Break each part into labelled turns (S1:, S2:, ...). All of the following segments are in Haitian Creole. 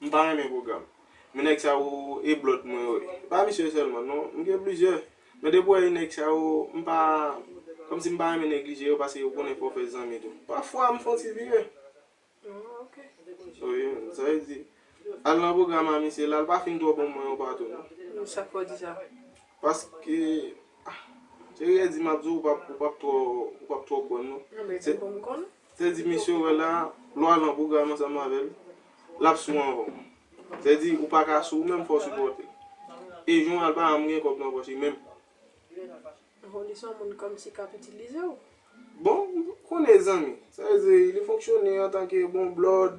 S1: M ta renmen program. Men nèg sa yo e blòd mwen yo e pa misye sèlman non m gen plizyè men depi wè e nèg sa yo m pa kòmsi m pa renmen neglije yo paske ou konnen fò fè zanmi tou pafwa m fon ti vire
S2: oh yeah
S1: sa vle di al nan program a misye la l pa fin twò bon mwen yo pa tou non sak fè w di
S2: sa paske
S1: ah se riyè di map di w ou pap twò ou pap twò kwè m non se m konn m konnen
S2: Teddy mesye ou wè
S1: la lwa lan pwogram ansanm avèl lap sou anvan w Teddy ou paka sou ou menm fòw sipòte e jon al pa janm gen kòb nan pòch li menm.
S2: Ho li son moun komsi kap itilizew. Bon
S1: konnen zanmi. Sa vle di li fonksyone antanke bon blòd.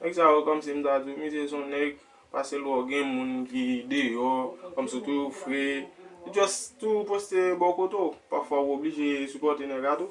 S1: Nèg sa yo kòmsi m ta di w misye son nèg pase lè w gen moun ki deyò kòmsi w toujou fre li just toujou poste bò kote w pafwa w oblije sipòte nèg la tou.